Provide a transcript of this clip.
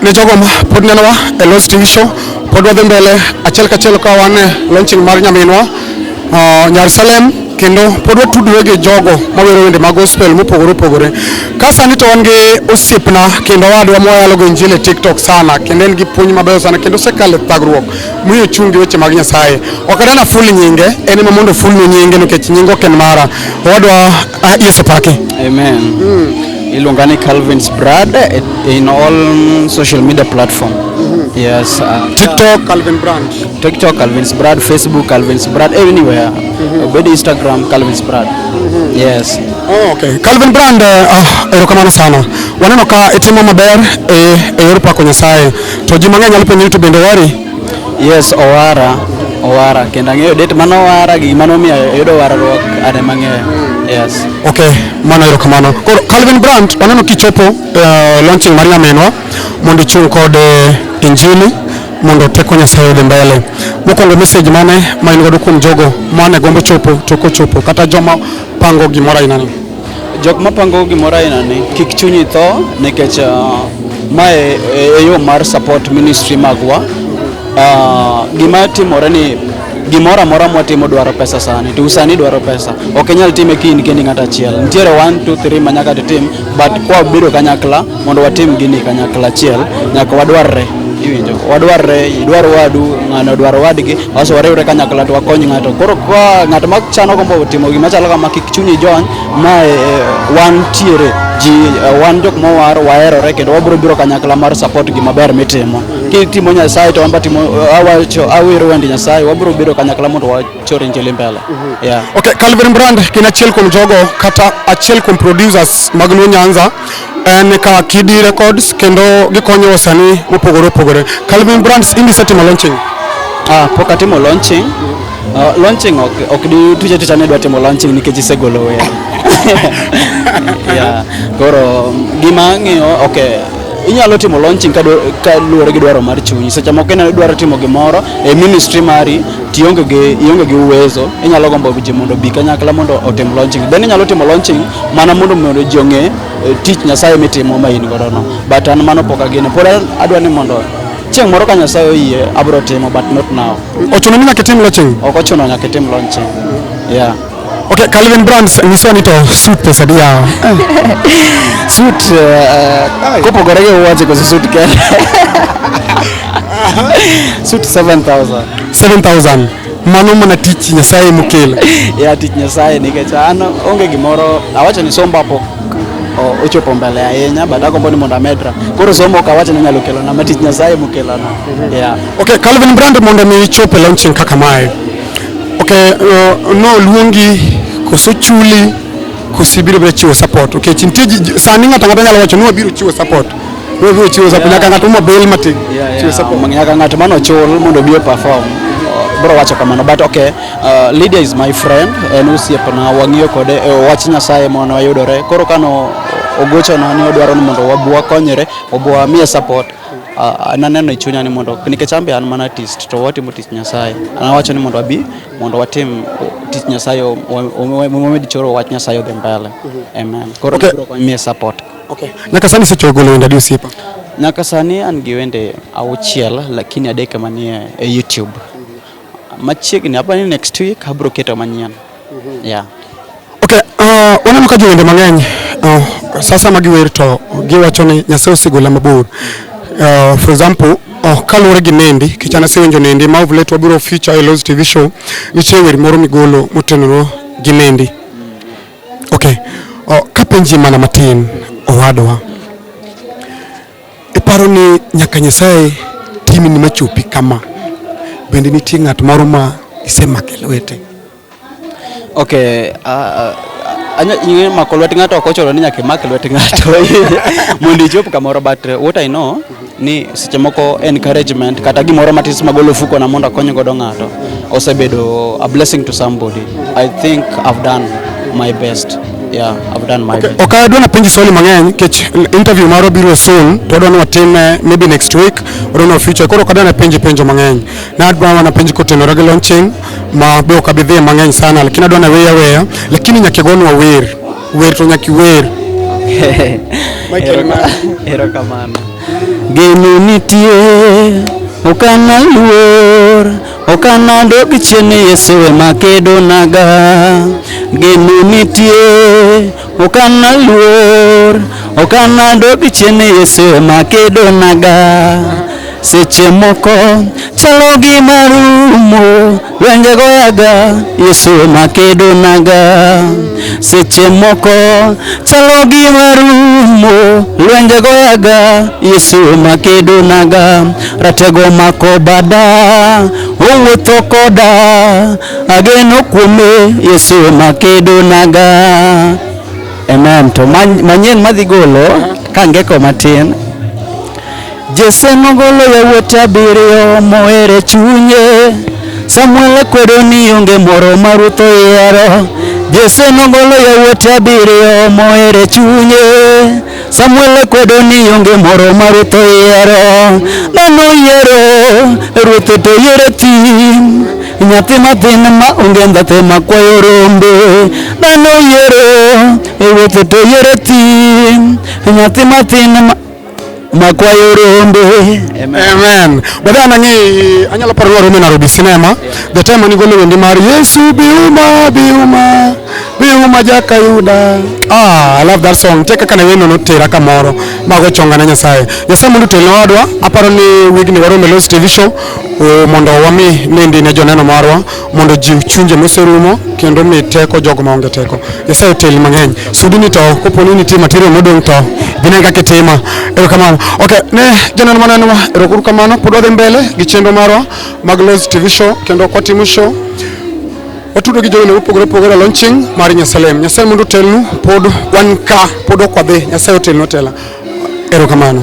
ne jogo ma pod nenowa e Lost TV show pod wadhi mbele achiel kachiel ka wan e launching mar nyaminwa uh, Nyar Salem kendo pod watudore gi jogo mawero wende mag gospel mopogore opogore ka sani to wan gi osiepna kendo wadwa moyalo go injili e tiktok sana kendo en gi puonj mabeyo sana kendo osekalo e thagruok miyo ochung' gi weche mag nyasaye ok adana ful nyinge en ema mondo fulnu nyinge nikech nyinge ok en mara wadwa Ah, Yesu pake. Amen. Mm. Iluonga ni Calvin's Brad eh, in all social media platform. Mm -hmm. Yes. Uh, TikTok Calvin Brand. TikTok Calvin's Brad, Facebook Calvin's Brad, anywhere. Mm -hmm. Obedi Instagram Calvin's Brad. Mm -hmm. Yes. Oh, okay. Calvin Brand uh, eh, ah, erokamano sana. Waneno ka itimo maber e eh, e yor pako Nyasaye. To ji mang'eny nyalo penjo YouTube bende wari Yes, owara, owara kendo ang'eyo date mane owara gi gima nomiyo ayudo warruok ane mang'eyo. Yes. Okay, mano erokamano. Koro Calvin Brandt waneno kichopo eh, launching mar nyaminwa mondo ichung' kod eh, injili mondo teko Nyasaye odhi mbele. Mokwongo message mane ma in godo kuom jogo mane gombo chopo to kochopo kata joma pango gimoro aina ni. Jok mapango gimoro ainani kik chunyi tho nikech uh, mae e yo mar support ministry magwa. Uh, gima timore ni gimoro amora mwatimo dwaro pesa sani to usani dwaro pesa ok inyal time kiny kendi ng'at achiel nitiere 1 2 3 manyaka titim but kwa bedo kanyakla Mondo watim gini kanyakla achiel, nyaka wadwarre iwinjo wadwarre idwar wadu ng'ano odwar wadgi waso wariwre kanyakla to wakony ng'ato koro ka ng'ato ma chano gombo timo gima chalo kama kik chunyi jony ma e, e, wan tiere ji e, wan jok mowar waherore kendo wabiro biro kanyakla mar support gima ber mitimo kitimo nyasaye to wamba timo awacho awero wendi nyasaye wabiro biro kanyakla mondo choro njele mbele mhm. yeah okay Calvin Brand kina chiel kum jogo kata achiel kum producers mag Luo Nyanza en ka Kidi Records kendo gikonyo wasanii mopogore opogore Calvin Brands indi setimo launching ah poka timo launching Uh, launching ok, ok di tuje tuje ne dwa timo launching nikech isegolo wer. yeah. Koro gima ng'iyo okay inyalo timo launching ka, ka luwore gi dwaro mar chunyi. Seche moko ineno idwaro timo gimoro e ministry mari tionge gi ionge gi uwezo inyalo gombo ji mondo bi kanyakla mondo otim launching then inyalo timo launching mana mondo mondo ji ong'e eh, tich nyasaye mitimo ma in godo no but an mano pok agene pod adwa ni mondo chieng' moro ka nyasaye oyie abro timo but not now Ochuno ni nyaka itim launching? ok ochuno nyaka itim launching yeah Okay, Calvin Brands nyiso ni to suit pesa di yawa. Suit uh, kopogore gi wuoche koso suit kende. Suit 7000. 7000. Mano mana tich Nyasaye mokelo. Ya tich Nyasaye nikech an onge gimoro awacho ni somba po o- ochopo mbele ahinya but agombo ni mondo amedra. Koro somo ok awacho ni nyalo kelona ma tich Nyasaye mokelona. Yeah. Okay, Calvin Brand mondo mi ichop e launching kaka mae. Ok, uh, noluongi koso chuli koso ibiro biro chiwo support nikech nitie ji- ji- sani ng'ato ang'ata nyalo wacho ni wabiro chiwo support ni wabiro chiwo support nyaka ng'ato ma bail matin chiwo support Yeah, nyaka ng'ato mano chul mondo obi perform bro wacho kamano but okay uh, Lydia is my friend en osiepna wang'iyo kode e wach Nyasaye mono wayudore koro kano ogochona ni odwaro ni mondo wabwa konyre obwa miye support Ah, naneno e chunya ni mondo nikech an be an mana artist to watimo tich Nyasaye. An awacho ni mondo abi mondo watim tich Nyasaye o- o- o- wamed choro wach Nyasaye odhi mbele. Amen. Koro Okay. biro konyie support. Okay. Nyaka sani isechoyo golo wende adi osiepa? Nyaka sani an gi wende auchiel lakini adek manie e YouTube. Machiegni hapa ni next week abiro keto manyien. Yeah. Okay, uh, waneno ka jowende mang'eny uh, sasa ma giwer to giwacho ni Nyasaye osegola mabor. Uh, for example, uh, kaluwore gi Nendi, kichana asewinjo Nendi ma of late wabiro feature e Loz TV show, nitie wer moro migolo motenore gi Nendi. Okay. Uh, kapenji mana matin owadwa. Iparo ni nyaka Nyasaye timi ni machopi kama, bende nitie ng'at moro ma isemake lwete? Okay, uh, uh, anya mako lwet ng'ato ok ochuno ni nyaka imak lwet ng'ato mondo ichop kamoro but uh, what I know ni seche moko encouragement kata gimoro matis magolo fuko na mondo akony godo ng'ato osebedo a blessing to somebody I think I've done my best Yeah, I've done my okay. bit. Okay, adwa napenji swali mang'eny kech interview maro biro soon to adwa ni watim eh, maybe next week or no future koro kadwa napenji penjo mang'eny na adwa napenji kotenore gi launching ma be ok abidhie mang'eny sana lakini adwa naweya weya lakini nyaka igonwa wer wer to nyaka iwer Michael Mann. Erokamano. Geno nitie ok analuor Ok anadog chien ni Yesu ema kedonaga, geno nitie, ok analuor, ok anadog chien ni Yesu ema kedonaga. Seche moko chalo gi marumo, lwenje goyaga, Yesu ema kedonaga. Seche moko chalo gi marumo, lwenje goyaga, Yesu ema kedonaga. Ratego mako bada, owuotho koda, ageno kuome Yesu makedo naga. Amen. To manyien madhi golo ka ngeko matin. Jese nogolo yawuote abiriyo mohere chunye. Samuel kwedo ni onge moro ma Ruth oyiero. Jese nogolo yawuote abiriyo mohere chunye. Samuel kwedo ni onge moro ma ruoth oyiero, mano oyiero ruoth to oyiero tim nyathi mathin ma onge ndhathe ma kwayo rombe mano oyiero ruoth to oyiero tim nyathi mathin ma makwayo rombe amen bada anang'i anyalo paro ni waromo e nairobi sinema the time anigolo wendi mar yesu biuma biuma Bi uma jaka yuda. Ah, I love that song. Teka kana weno no tera kamoro. Mago chonga na Nyasaye. Nyasaye mondo to lodwa. Aparo ni wig ni waro Melos TV show. O mondo wami nende ne joneno marwa mondo jiw chunje moserumo kendo mi teko jogo ma onge teko. Nyasaye tel mang'eny. Sudi ni to kopo ni nitie material modong to bine kaka tima. Ero kamano. Okay, ne joneno maneno wa. Ero kuru kamano. Pod wadhi mbele gi chenro marwa mag Melos TV show kendo kwa timu show. watudo gi jowene mopogore opogore e launching mar Nyasalem. Nyasaye mondo otelnu, pod wan ka, pod ok wadhi. Nyasaye otelnu otela. Erokamano.